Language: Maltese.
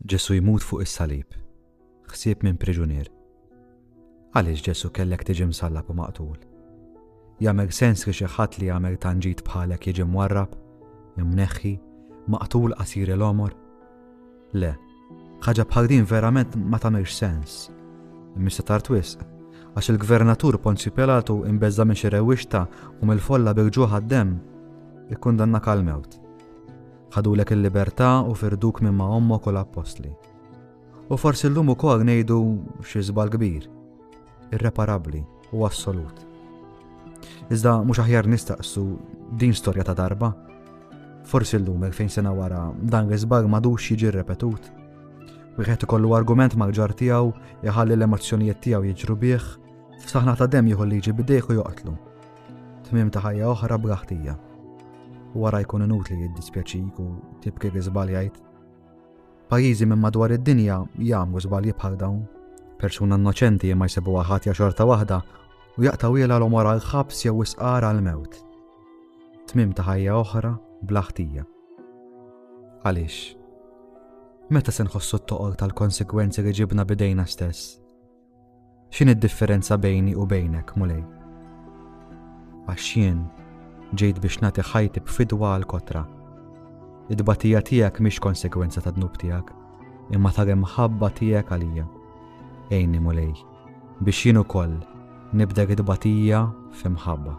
Ġesu jmut fuq is-salib, ħsieb minn priġunier. Għaliex Ġesu kellek tiġi msallab u maqtul? Jagħmel sens li xi ħadd li jagħmel tanġit bħalek jiġi mwarrab, imneħħi, maqtul qasir il-omor? Le, ħaġa bħal din verament ma tagħmilx sens. Mista tar twisq, għax il-gvernatur Ponzi Pilatu imbeżza minn xi rewwixta u mill-folla bil-ġuħ għad-demm, ikkundanna kal-mewt. Ħadulek il-libertà u firduk minn ma' ommok u l-appostli. U forsi llum ukoll ngħidu xi żbal kbir, irreparabbli u assolut. Iżda mhux aħjar nistaqsu din storja ta' darba. Forsi llum fejn sena wara dan l-iżbal madux jiġi repetut. Wieħed ikollu argument mal-ġar tiegħu jħalli l-emozzjonijiet tiegħu jiġru bih, f'saħna ta' dem jieħu liġi bidejh u joqtlu. tmiem ta' ħajja oħra bla ħtija. Wara jkun inutli jiddispjaċik u tibki li żbaljajt. Pajjiżi minn madwar id-dinja jagħmlu żbalji bħal dawn. Persuna innoċenti ma jsibuha ħatja xorta waħda u jaqtaw jela l-omor għal ħabs jew isqar għal mewt. Tmim ta' ħajja oħra bla ħtija. Għaliex? Meta se nħossu t-toqol tal-konsekwenzi li ġibna bidejna stess? X'in id-differenza bejni u bejnek, Mulej? Għax jien ġejt biex nagħti ħajti b'fidwa għal kotra. Id-batija tiegħek mhix konsegwenza ta' dnub tiegħek, imma ta' imħabba tiegħek għalija. Ejni Mulej, biex jien ukoll nibdek id-batija f'imħabba.